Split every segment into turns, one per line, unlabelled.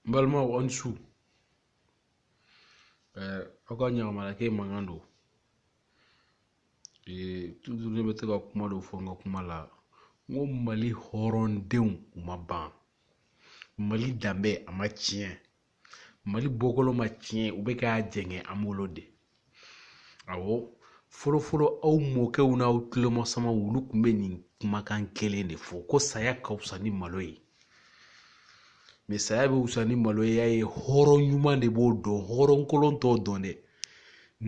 n balimaw aw ni su ɛɛ aw ka ɲagamana kɛ mankan don ee tutu ne bɛ to ka kuma dɔ fɔ n ka kuma la n ko mali hɔrɔndenw u ma ban mali danbe a ma tiɲɛ mali bɔkolo ma tiɲɛ u bɛ k'a jɛngɛ an bolo de awɔ fɔlɔfɔlɔ aw mɔkɛw n'aw tulomasamaw olu tun bɛ nin kumakan kelen de fɔ ko saya ka wusa ni malo ye mɛ saya bɛ wusa ni malo ye y'a ye hɔrɔn ɲuman de b'o dɔn hɔrɔn kolon t'o dɔn dɛ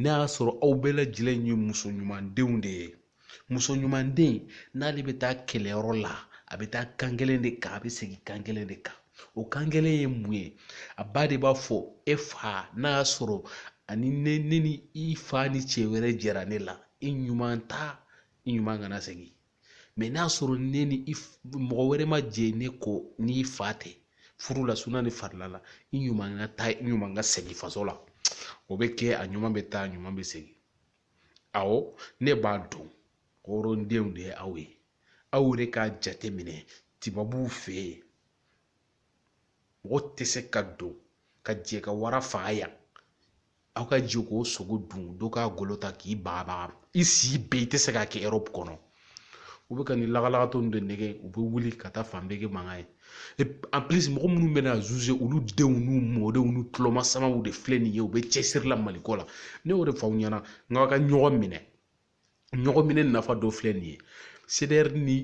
n'a y'a sɔrɔ aw bɛɛ lajɛlen ye muso ɲumandenw de ye muso ɲuman den n'ale bɛ taa kɛlɛyɔrɔ la a bɛ taa kan kelen de kan a bɛ segin kan kelen de kan o kan kelen ye mun ye a ba de b'a fɔ e fa n'a y'a sɔrɔ ani ne ne ni i fa ni cɛ wɛrɛ jɛra ne la i ɲuman taa i ɲuman kana segin mɛ n'a sɔrɔ ne ni i mɔgɔ wɛrɛ ma jɛ ne kɔ ni i fa tɛ furu la suna ni farila la i ɲuman ka taa i ɲuman ka segin faso la o bɛ kɛ a ɲuman bɛ taa a ɲuman bɛ segin awɔ ne b'a dɔn hɔrɔndenw de ye aw ye aw yɛrɛ k'a jateminɛ tibabuw fɛ yen mɔgɔ tɛ se ka don ka jɛ ka wara faga yan aw ka jɛ k'o sogo dun dɔ k'a golo ta k'i bagabaga i si bɛɛ i tɛ se k'a kɛ erɔpu kɔnɔ u bɛ ka nin lagalagatɔ ninnu de nɛgɛn u bɛ wuli ka taa fan bɛɛ kɛ mankan ye en plus mɔgɔ minnu bɛ na zuze olu denw n'u mɔdenw n'u tulomasamaw de filɛ nin ye u bɛ cɛsiri la maliko la ne y'o de fɔ aw ɲɛna n k'aw ka ɲɔgɔn minɛ ɲɔgɔn minɛ nafa dɔ filɛ nin ye cdr ni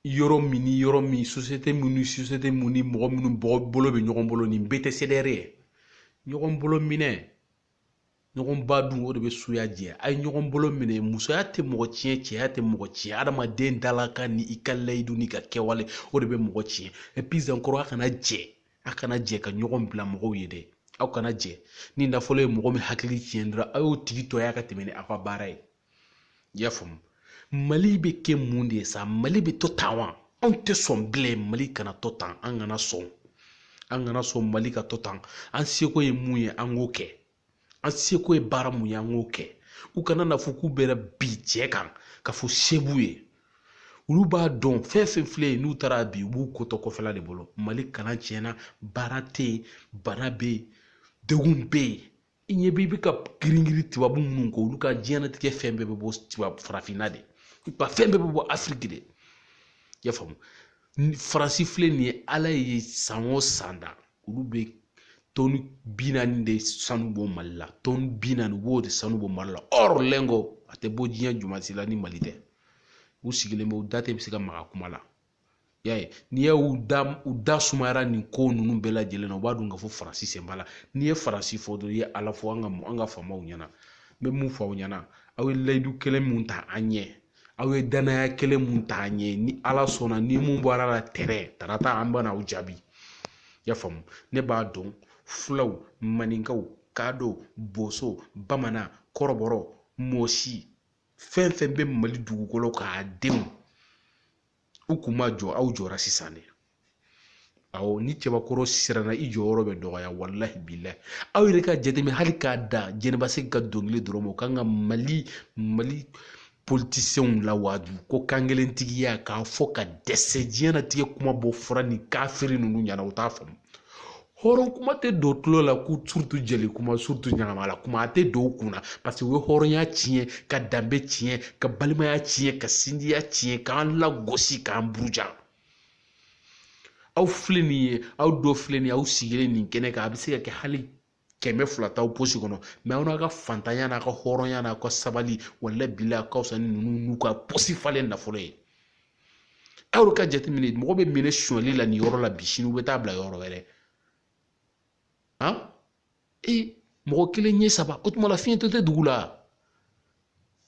yɔrɔ min ni yɔrɔ min sosiyete min ni sosiyete min ni mɔgɔ minnu bɔgɔ bolo bɛ ɲɔgɔn bolo nin bɛɛ tɛ cdr ye ɲɔgɔn bolo minɛ ɲɔgɔn ba dun o de bɛ suya jɛ a ye ɲɔgɔn bolo minɛ musoya tɛ mɔgɔ tiɲɛ cɛya tɛ mɔgɔ tiɲɛ adamaden dalakan ni i ka layidu n'i ka kɛwale o de bɛ mɔgɔ tiɲɛ puis encore a kana jɛ a kana jɛ ka ɲɔgɔn bila mɔgɔw ye dɛ aw kana jɛ ni nafolo ye mɔgɔ min hakili tiɲɛ dɔrɔn a y'o tigi to yan ka tɛmɛ ni aw ka baara ye i y'a faamu mali bɛ kɛ mun de ye sa mali bɛ to tan wa anw tɛ sɔn bilen mali kana to tan an kana sɔn an kana sɔn mali ka to tan an seko ye mun ye an k'o kɛ an seko ye baara mun ye an k'o kɛ u kana n'a fɔ k'u bɛna bin cɛ kan ka fɔ se b'u ye olu b'a dɔn fɛn fɛn filɛ yen n'u taara bi u b'u ko to kɔfɛla de bolo mali kalan tiɲɛna baara tɛ yen bana bɛ yen degun bɛ yen i ɲɛ b'i bɛ ka giringirin tubabu minnu kɔ olu ka diɲɛnatigɛ fɛn bɛɛ bɛ bɔ tubabu farafinna de u ka fɛn bɛɛ bɛ bɔ afiriki de i y'a faamu faransi filɛ nin ye ala ye san o san da olu bɛ tɔni bi naani de sanu bɔ mali la tɔni bi naani u b'o de sanu bɔ mali la or lingot a tɛ bɔ diɲɛ jamana si la ni mali tɛ u sigilen bɛ u da tɛ bɛ se ka maga kuma la y'a ye n'i ye u da u da sumayara nin ko ninnu bɛɛ lajɛlen na u b'a dɔn k'a fɔ faransi sen b'a la n'i ye faransi fɔ dɔrɔn i ye ala fɔ an ka an ka faamaw ɲɛna n bɛ mun fɔ aw ɲɛna aw ye layidu kelen mun ta an ɲɛ aw ye danaya kelen mun ta an ɲɛ ni ala sɔnna ni mun bɔra la tɛrɛ tarata an bɛna aw jaabi y'a faamu ne b'a dɔn fulaw maninkaw kadɔ boso bamanan kɔrɔbɔrɔ mɔsi fɛn fɛn bɛ mali dugukolo k'a denw u kun ma jɔ aw jɔra sisan de awɔ ni cɛbakɔrɔ siranna i jɔyɔrɔ bɛ dɔgɔya walahi bilahi aw yɛrɛ ka jateminɛ hali k'a da jɛnɛba sɛki ka dɔnkili dɔrɔn ma o kan ka mali mali politisiyɛnw lawaaju ko kankelentigiya k'a fɔ ka dɛsɛ diɲɛnatigɛ kuma bɔ fɔra nin kafiri ninnu ɲɛna u t'a faamu hɔrɔn kuma tɛ don tulo la ko surtout jeli kuma surtout ɲamakala kuma a tɛ don u kunna parce que u ye hɔrɔnya tiɲɛ ka danbe tiɲɛ ka balimaya tiɲɛ ka sinjiya tiɲɛ k'an lagosi k'an buruja aw filɛ nin ye aw dɔ filɛ nin ye aw sigilen nin kɛnɛ kan a bɛ se ka kɛ hali kɛmɛ fila t'aw posi kɔnɔ mais aw n'a ka fantanya n'a ka hɔrɔnya n'a ka sabali walahi bilahi a ka fisa ni ninnu n'u ka posi falen nafolo ye aw ka jateminɛ mɔgɔ bɛ minɛ sonyali la nin yɔrɔ la bi sini u bɛ taa bila yɔrɔ wɛrɛ han ee mɔgɔ kelen ɲɛ saba o tuma la fiyentɔ tɛ dugu la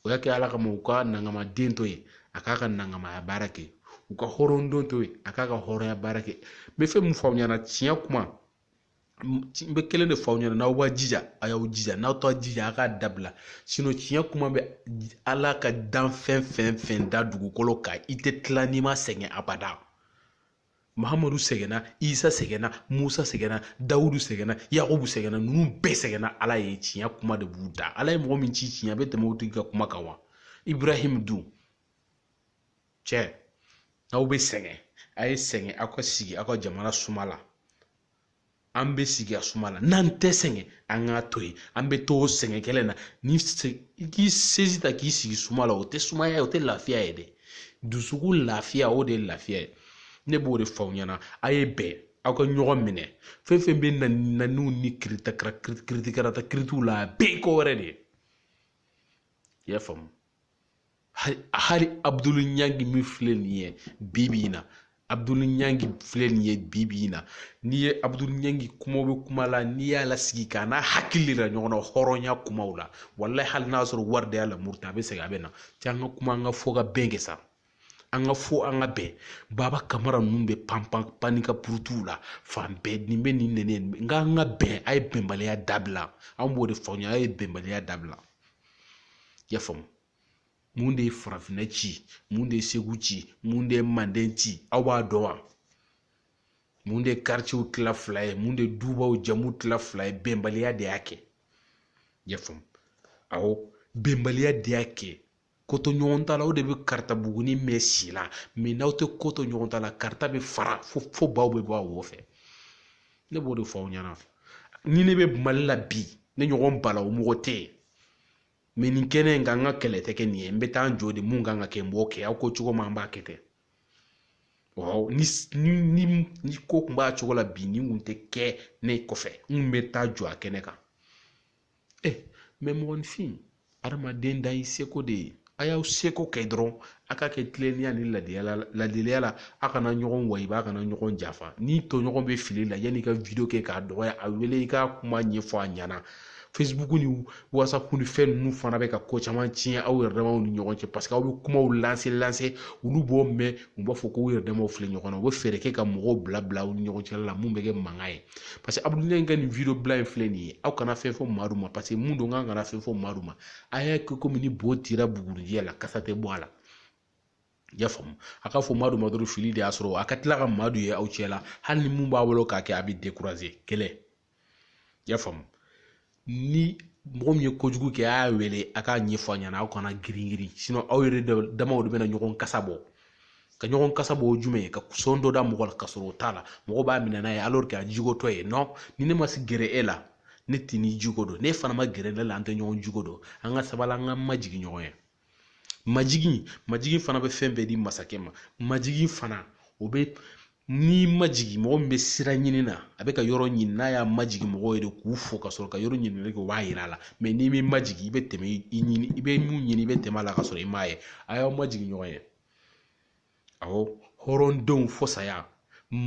o y'a kɛ ala kama u ka nangama den to yen a k'a ka nangamaya baara kɛ u ka hɔrɔn den to yen a k'a ka hɔrɔnya baara kɛ n bɛ fɛn min fɔ aw ɲɛna tiɲɛ kuma n bɛ kelen de fɔ aw ɲɛna n'aw b'a jija a y'aw jija n'aw t'a jija a k'a dabila tiɲɛ kuma bɛ ala ka danfɛn fɛn fɛn da dugukolo kan i tɛ tila n'i ma sɛgɛn abada mahamadu sɛgɛnna isa sɛgɛnna musa sɛgɛnna dawudu sɛgɛnna yakubu sɛgɛnna ninnu bɛɛ sɛgɛnna ala ye tiɲɛ kuma de b'u da ala ye mɔgɔ min ci tiɲɛ a bɛ tɛmɛ o tigi ka kuma kan wa ibrahim dun cɛ n'aw bɛ sɛgɛn a ye sɛgɛn aw ka sigi aw ka jamana suma la an bɛ sigi a suma la n'an tɛ sɛgɛn an k'a to yen an bɛ to o sɛgɛn kelen na ni k'i sezi ta k'i sigi suma la o tɛ sumaya ye o tɛ lafiya ye dɛ dusukun lafiya o de ye lafiya ye ne b'o de fɔ aw ɲɛna a ye bɛn aw ka ɲɔgɔn minɛ fɛn fɛn bɛ na naniw ni kiritakara kiritikarata kiritiw la a bɛɛ ye ko wɛrɛ de ye i y'a faamu hali abudulu ɲangi min filɛ nin ye bi bi in na abudulu ɲangi filɛ nin ye bi bi in na n'i ye abudulu ɲangi kumaw bɛ kuma la n'i y'a lasigi k'a n'a hakili yira ɲɔgɔn na hɔrɔnya kumaw la walahi hali n'a sɔrɔ wari de y'a lamuruti a bɛ segin a bɛ na cɛ an ka kuma an ka fɔ ka bɛn kɛ sa an ka fɔ an ka bɛn baba kamara ninnu bɛ pan pan pan ka purutuw la fan bɛɛ nin bɛ nin nɛni n ko an ka bɛn a ye bɛnbaliya dabila an b'o de fɔ aw ɲɛ a ye bɛnbaliya dabila i y'a faamu mun de ye farafinna ci mun de ye segu ci mun de ye manden ci aw b'a dɔn wa mun de ye karicew tila fila ye mun de ye dubaw jama tila fila ye bɛnbaliya de y'a kɛ y'a faamu awɔ bɛnbaliya de y'a kɛ kotoɲɔgɔntala o de bɛ karata buguni mɛɛn si la mɛ n'aw tɛ koto ɲɔgɔn ta la karata bɛ fara fo fo baw bɛ bɔ a wo fɛ ne b'o de fɔ aw ɲɛna ni ne bɛ mali la bi ne ɲɔgɔn balawu mɔgɔ tɛ yen mɛ nin kɛnɛ in kan n ka kɛlɛ tɛ kɛ nin ye n bɛ taa n jɔ de mun kan ka kɛ n b'o kɛ aw ko cogo min an b'a kɛ ten ni ni ni ko kun b'a cogo la bi nin kun tɛ kɛ ne kɔfɛ n kun bɛ taa jɔ a kɛnɛ kan ɛ mɛ mɔgɔninfin adamaden dan y'i seko de ye a y'aw seko kɛ dɔrɔn a ka kɛ tilennenya ni ladiyala ladiliya la a kana ɲɔgɔn wayiba a kana ɲɔgɔn janfa n'i tɔɲɔgɔn bɛ fili la yanni i ka wideyo kɛ k'a dɔgɔya a wele i k'a kuma ɲɛfɔ a ɲɛna facebook ni whatsapp ni fɛn ninnu fana bɛ ka ko caman tiɲɛ aw yɛrɛ damaw ni ɲɔgɔn cɛ paseke aw bɛ kumaw lanse lanse olu b'o mɛn u b'a fɔ ko u yɛrɛ damaw filɛ ɲɔgɔn na u bɛ fɛɛrɛ kɛ ka mɔgɔw bila bila aw ni ɲɔgɔn cɛ la mun bɛ kɛ mankan ye paseke abudulayi ka nin video bilalen filɛ nin ye aw kana fɛn fɔ madu ma paseke mun don k'an kana fɛn fɔ madu ma a y'a kɛ komi ni bo tira bugurijɛ la kasa tɛ bɔ a la i y'a faamu a ka fɔ madu madu fili de y'a sɔrɔ a ka tila ka madu ye aw cɛ la hali ni mun b'a bolo k'a kɛ a bɛ dekuraze kɛlɛ i y'a faamu ni mɔgɔ min ye kojugu kɛ a y'a wele a k'a ɲɛfɔ a ɲɛna aw kana girin girin aw yɛrɛ damaw de bɛna ɲɔgɔn kasa bɔ ka ɲɔgɔn kasa bɔ jumɛn ye ka sɔn dɔ da mɔgɔ la ka sɔrɔ o t'a la mɔgɔ b'a minɛ n'a ye a jogo dɔ ye ni ne ma se gɛrɛ e la ne t'i ni jogo dɔn n'e fana ma gɛrɛ ne la an tɛ ɲɔgɔn jogo dɔn an ka sabali an ka majigin ɲɔgɔn ye majigin majigin fana bɛ fɛn bɛɛ di masakɛ ma majigin fana o bɛ n'i majigin mɔgɔ min bɛ sira ɲini na a bɛ ka yɔrɔ ɲini n'a y'a majigin mɔgɔw ye de k'u fo ka sɔrɔ ka yɔrɔ ɲininkali kɛ o b'a yira a la mɛ n'i m'i majigin i bɛ tɛmɛ i ɲini i bɛ mun ɲini i bɛ tɛmɛ a la ka sɔrɔ i m'a ye a y'aw majigin ɲɔgɔn ye awɔ hɔrɔndenw fɔ saya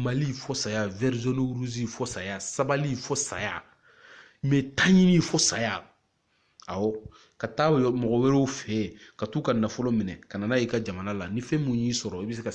mali fɔ saya verizoni ruzi fɔ saya sabali fɔ saya mɛ taɲini fɔ saya awɔ ka taa mɔgɔ wɛrɛw fɛ yen ka t'u ka nafolo minɛ ka na n'a ye i ka jamana la ni fɛn mun y'i sɔrɔ i bɛ se ka